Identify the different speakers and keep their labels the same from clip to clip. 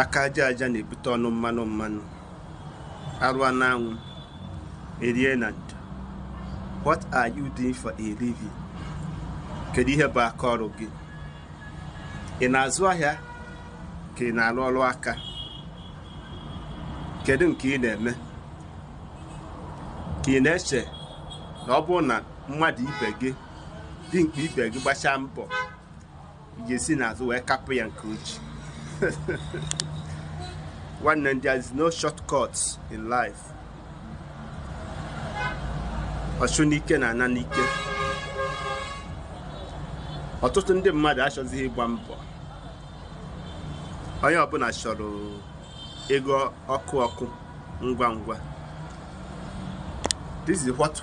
Speaker 1: aka aja aja na-ebute ọnụ mmanụ mmanụ arụọ n'anwụ erie na ndo what are you doing for a living kedu ihe bụ aka ọrụ gị ị na-azụ ahịa ka ị na-arụ ọrụ aka kedu nke ị na-eme ka ị na-eche na ọ bụrụ na mmadụ ibe gị dimkpa ibe gị gbachaa mbọ ị ga-esi n'azụ wee kapụ ya nke uchi nwanne m there is no shortcut in life ọchụ n'ike na-ana n'ike ọtụtụ ndị mmadụ achọzighị ịgba mbọ onye ọbụna chọrọ ego ọkụ ọkụ ngwa ngwa this is what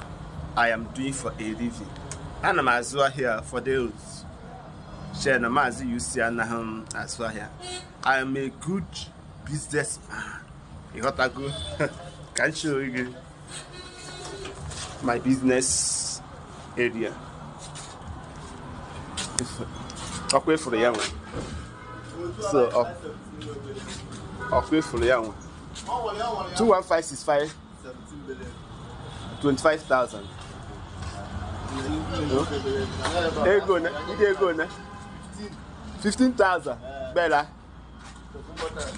Speaker 1: i am doing for a living ana m azụ ahịa for those Chere na Maazị UC anaghị azụ ahịa. I am a good businessman. Ịghọtago ka m show gị my business area. Ọkwa ịfụrụ ya nwa. So ọ- ọkwa ịfụrụ ya nwa. 21565 25,000 ego na ndị ego na 15,000 bela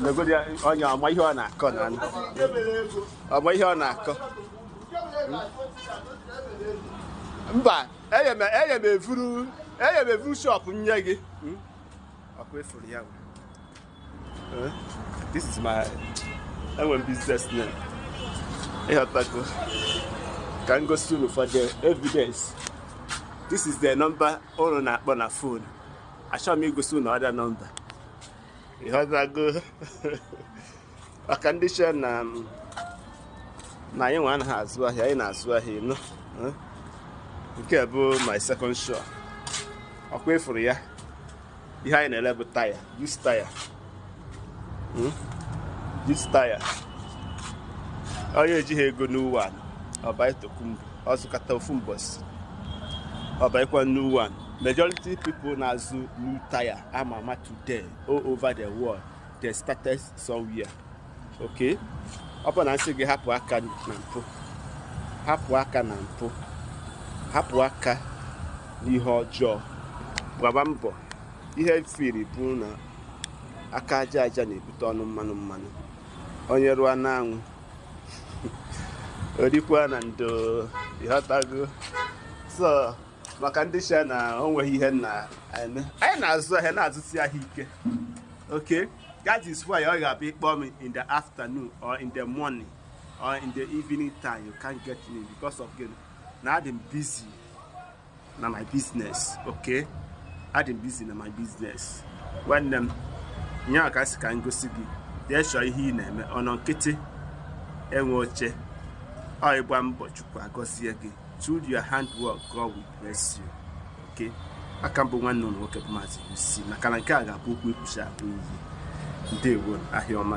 Speaker 1: negodi onye ọma ihe ọ na-akọ na anụ ọma ihe ọ na-akọ mba enye m enye m efuru enye m evuru shop nye gị ọkwa ịfụrụ ya bụ Eh, this is my enwe business name ịghọtago ka m gosi unu for the evidence this is the number unu na-akpọ na phone achọrọ m igosi unu other number ịghọtago maka ndị che na um, na anyị nwa anaghị azụ ahịa anyị na-azụ ahịa ị nụ eh? nke a bụ my second shop ọkwa ịfụrụ ya ihe anyị na-ele bụ tyre just tyre hmm? just tyre onye ejighị ego new one ọ buy tokunbo ọ zụkata ofu mbọsị ọ buykwa new one majority people na-azụ new tyre a ma ama today all over the world they started somewhere okay ọ bụ na m sị gị hapụ aka na mpụ hapụ aka na mpụ hapụ aka n'ihe ọjọọ gbaba mbọ ihe firi bụ na aka aja aja na-ebute ọnụ mmanụ mmanụ onye rụọ n'anwụ o rikwa na ndo ị ghọtago so maka ndị shị na o nweghị ihe na-eme anyị na-azụ ahịa na-azụsi ahịa ike okay That is why ọ ga-abụ ị kpọọ m in the afternoon or in the morning or in the evening time you can't get me because of gịnị na adị m busy na my business okay adị m busy na my business nwanne m ihe a ka m sị ka m gosi gị jee chọọ ihe ị na-eme ọnọ nkịtị enwe oche ọ ị gba mbọ chukwu agọzie gị through your handwork God will bless you okay aka m bụ nwanne ụnụ nwoke bụ maazị usi maka na nke a ga-abụ okwu ekwusi akpụ iyi ndewo ahịa ọma